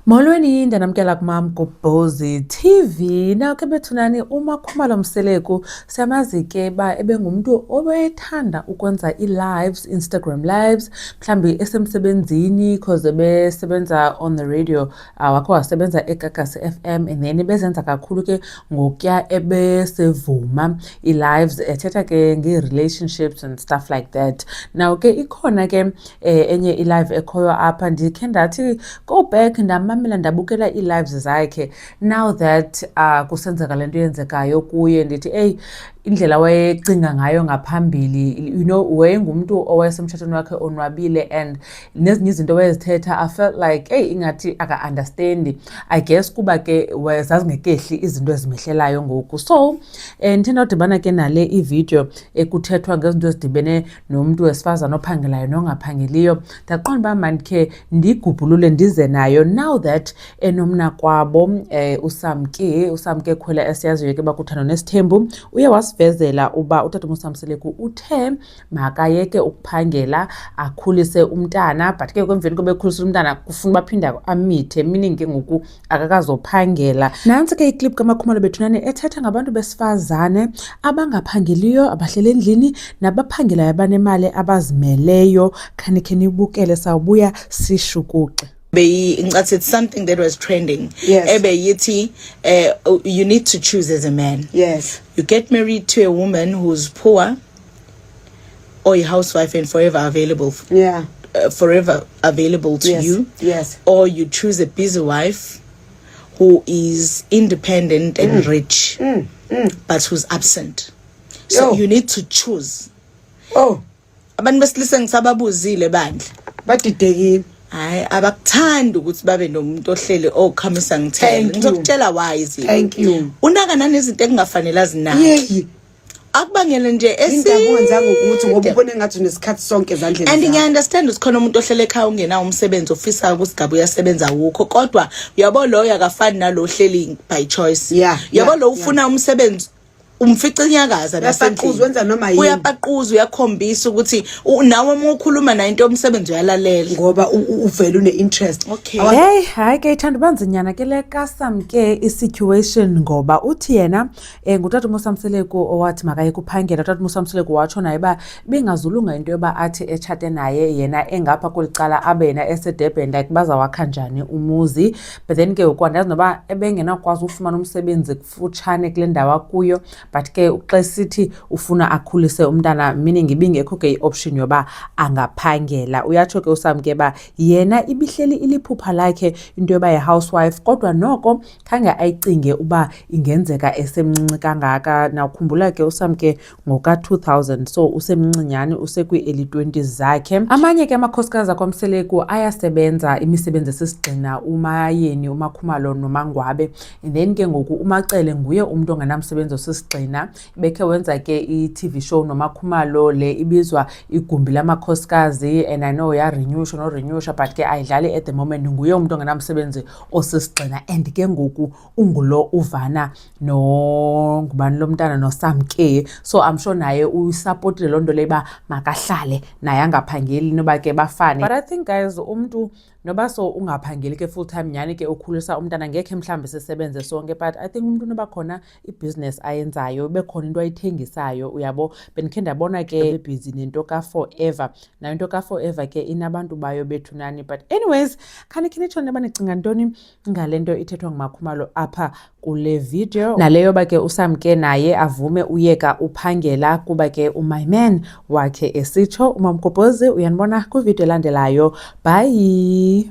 Molweni ndanamkela kumam Gobhozi TV naw ke bethunani uMakhumalo Mseleku siyamazi ke uba ebengumntu obethanda ukwenza ii-lives Instagram lives mhlawumbi esemsebenzini because ebesebenza on the radio uh, wakho wasebenza egagasi FM and then bezenza kakhulu ke ngokuya ebesevuma ii-lives ethetha ke ngee-relationships and stuff like that naw ke ikhona ke eh, enye ilive ekhoyo apha ndikhe ndathi go back ndamamela ndabukela ii-lives zakhe now that uh, kusenzeka le nto yenzekayo kuye ndithi eyi indlela wayecinga ngayo ngaphambili you know wayengumntu owayesemtshatweni wakhe onwabile and nezinye izinto wayezithetha i felt like eyi ingathi aka-understandi i guess kuba ke zazingekehli izinto ezimehlelayo ngoku so um eh, ndithe ndawudibana ke nale ividiyo ekuthethwa ngezinto ezidibene nomntu wesifazane ophangelayo nongaphangeliyo ndaqonda uba mandikhe ndigubhulule ndize nayo now that enomnakwabo um eh, usamke usamke khwela esiyaziyo ke bakuthando nesithembu uye wasivezela uba utata umusamseleku uthe makayeke ukuphangela akhulise umntana but ke kwemveni koba ekhulisile umntana kufuna uba aphinde amithe meaning ke ngoku akakazophangela nantsi ke iklip kamakhumalo bethunane ethetha ngabantu besifazane abangaphangeliyo abahlele endlini nabaphangelayo abanemali abazimeleyo khanikhe nibukele sawubuya sishukuxe beyincase it's something that was trending yes. ebeyithi uh, eh, you need to choose as a man yes you get married to a woman who's poor or a housewife and forever available. Yeah. Uh, forever available to yes. you. Yes. Or you choose a busy wife who is independent and mm. rich, mm. Mm. but who's absent. So Yo. you need to choose. Oh. abantu besilisa ngisababuzile bandla badidekile hayi abakuthandi ukuthi babe nomuntu ohleli okhamisa ngithele ngizokutshela why izinto unaka nanezinto ekungafanele azinazo akubangele nje esindakuwenza ngokuthi ngoba ubone ngathi unesikhathi sonke ezandleni and ngiyaunderstand ukuthi khona umuntu ohlele ekhaya ungenawo umsebenzi ofisayo ukusigaba uyasebenza wukho kodwa uyabo loyo akafani nalo ohleli by choice yeah, uyabo yeah, lo ufuna yeah. umsebenzi umfica inyakaza nasendlini wenza noma yini uyapaquza uyakhombisa ukuthi nawe uma ukhuluma nayo into omsebenzi uyalalela ngoba uvela une interest okay hey hayi ke ithanda banzinyana ke le custom ke i situation ngoba uthi yena um ngutata umosamseleko owathi makaye kuphangela utata umosamseleko watsho naye uba bingazulunga into yoba athi etshate naye yena engapha kweli cala abe yena esedurban like bazawakha njani umuzi but then ke ngoku andazi noba ebengenakwazi ufumana umsebenzi kufutshane kule ndawo akuyo but ke xa sithi ufuna akhulise umntana meaning ibingekho ke i-option yoba angaphangela uyatsho ke usamke uba yena ibihleli iliphupha lakhe into yoba yi-housewife kodwa noko khange ayicinge uba ingenzeka esemncinci kangaka nawukhumbula ke usamke ngoka-2000 so usemncinyane usekwi-early 20s zakhe amanye ke amakhosikazi akwamseleku ayasebenza imisebenzi esisigxina umayeni umakhumalo nomangwabe and then ke ngoku umacele nguye umntu ongenamsebenzi osisigxina bekhe wenza ke i-tv show nomakhumalo le ibizwa igumbi lamakhosikazi and i know yarenyusha norenyusha but ke ayidlali at the moment nguye umntu ongenamsebenzi osisigxina and ke ngoku ungulo uvana nongubani lo mntana nosamke so i'm sure naye usapotile loo nto leyo uba makahlale naye angaphangeli noba ke bafane but i think guys umntu noba so ungaphangeli ke full time nyhani ke ukhulisa umntana ngekhe mhlawumbi sisebenze sonke but i think umntu noba khona ibhizinesi ayenzayo bekhona into ayithengisayo uyabo bendikhe ndabona ke bebhizi nento ka-forever nayo into ka-forever ke inabantu bayo bethunani but anyways khanikhe nitsho neba nicinga ntoni ngale nto ithethwa ngumakhumalo apha kule video naleyo ba ke usam ke naye avume uyeka uphangela kuba ke umay man wakhe esitsho umamgobhozi uyanibona kwividiyo elandelayo bhayi